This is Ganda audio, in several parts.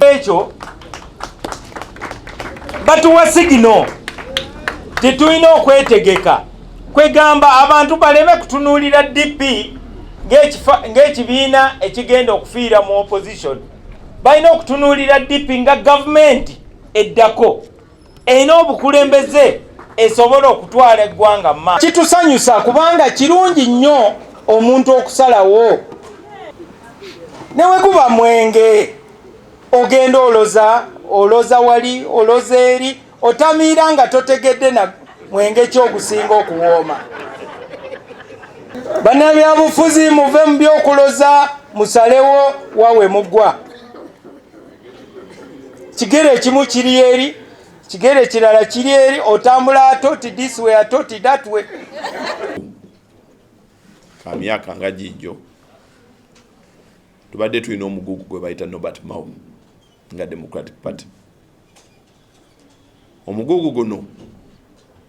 ekyo batuwa sigino titulina okwetegeka kwegamba abantu baleme kutunuulira dp ng'ekibiina ekigenda okufiira mu opposition balina okutunuulira dp nga gavumenti eddako erina obukulembeze esobola okutwala eggwanga ma kitusanyusa kubanga kirungi nnyo omuntu okusalawo newekuba mwenge ogenda oloza oloza wali oloza eri otamiira nga totegedde na mwenge kyogusinga okuwooma banabyabufuzi muve mu byokuloza musalewo wawe mugwa kigere ekimu kiri eri kigere kirala kiri eri otambula atoti this way atoti that way ka myaka nga gijjo tubadde tulina omugugu gwe bayita nobert mao nga democratic party omugugu guno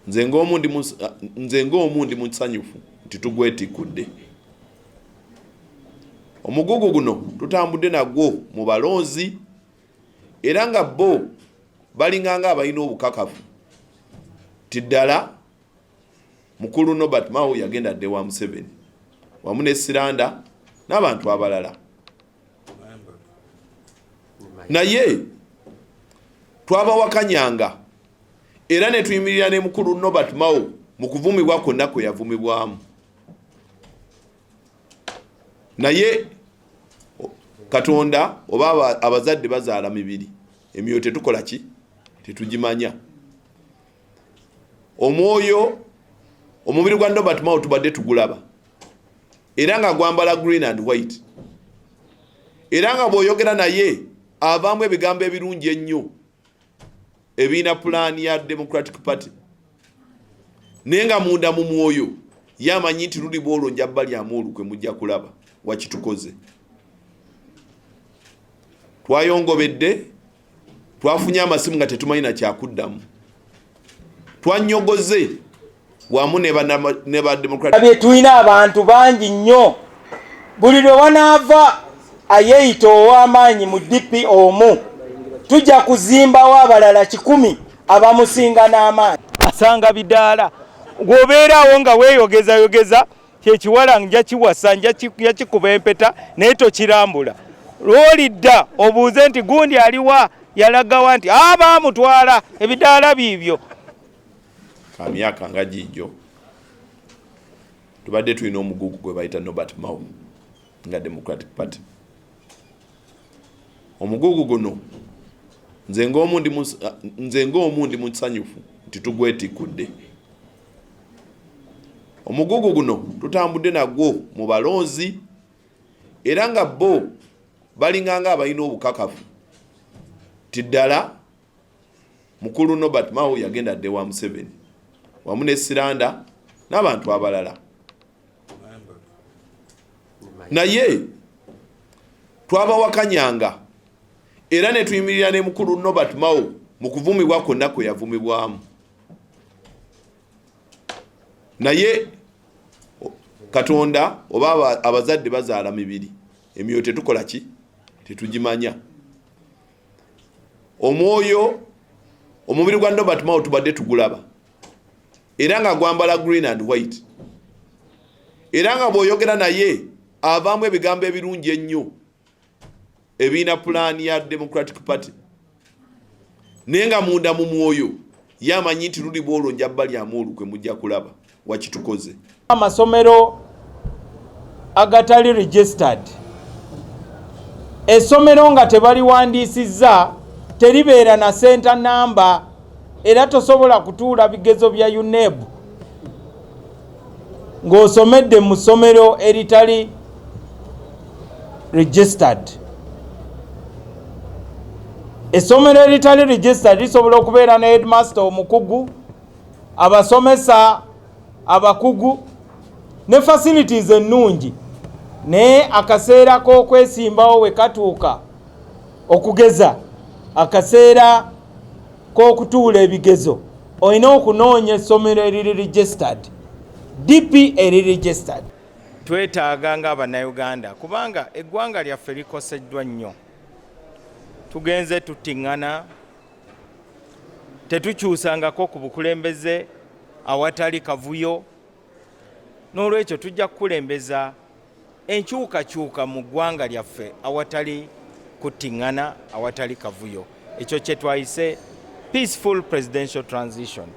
nze ngaomu ndi musanyufu nti tugwetikudde omugugu guno tutambudde nagwo mu balonzi era nga bo balinganga abalina obukakafu ti ddala mukulu nobert mao yagenda dde wa museveni wamu ne siranda n'abantu abalala naye twabawakanyanga era ne tuyimirira ne mukulu nobert mao mu kuvumibwa kwonna kwe yavumibwamu naye katonda oba abazadde bazaala mibiri emyoyo tetukola ki tetugimanya omwoyo omubiri gwa nobert mao tubadde tugulaba era nga gwambala green and white era nga bwoyogera naye avaamu ebigambo ebirungi ennyo ebiina pulaani ya democratic party naye nga munda mu mwoyo ye amanyi nti luli bwolwo nja balyamu olukwe mujja kulaba wakitukoze twayongobedde twafunye amasimu nga tetumanyi nakyakuddamu twanyogoze wamu ne ba democratic tulina abantu bangi nnyo buli lwe wanaava ayeeyita ow'amaanyi mu dp omu tujja kuzimbawo abalala kikumi abamusinga n'amaanyi asanga bidaala gwobeeraawo nga weeyogezayogeza kyekiwala nja kiwasa nja kikuba empeta naye tokirambula lwolidda obuuze nti gundi aliwa yalagawa nti abaamutwala ebidaala biibyo ka myaka nga giijo tubadde tulina omugugu gwe bayita nobert mau nga democratic party omugugu guno nze ng'omu ndi musanyufu nti tugwetikudde omugugu guno tutambudde nagwo mu balonzi era nga bo balinganga abalina obukakafu ti ddala Mukulu Nobert Mao yagenda dde wa Museveni wamu ne Siranda n'abantu abalala naye twabawakanyanga era ne tuyimirira ne mukulu Nobert Mao mu kuvumibwa kwonna kwe yavumibwamu naye katonda oba abazadde bazaala mibiri emyoyo tetukola ki tetugimanya omwoyo omubiri gwa nobert mao tubadde tugulaba era nga gwambala green and white era nga bwoyogera naye avaamu ebigambo ebirungi ennyo ebiina pulaani ya democratic party naye nga munda mu mwoyo ye amanyi nti luliba olwo nja balyamu olukwe mujja kulaba wakitukoze amasomero agatali registered esomero nga tebaliwandiisizza teribeera na senta namba era tosobola kutuula bigezo bya uneb ng'osomedde mu ssomero eritali registered essomero eritali registered lisobola okubeera ne headmaster omukugu abasomesa abakugu ne facilities ennungi naye akaseera k'okwesimbawo we katuuka okugeza akaseera k'okutuula ebigezo olina okunoonya essomero eriri registered dp eri registered twetaaga ng'abannayuganda kubanga eggwanga lyaffe likoseddwa nnyo tugenze tuttiŋŋana tetukyusangako ku bukulembeze awatali kavuyo n'olwekyo tujja kukulembeza enkyukakyuka mu ggwanga lyaffe awatali kuttiŋŋana awatali kavuyo ekyo kye twayise peaceful presidential transition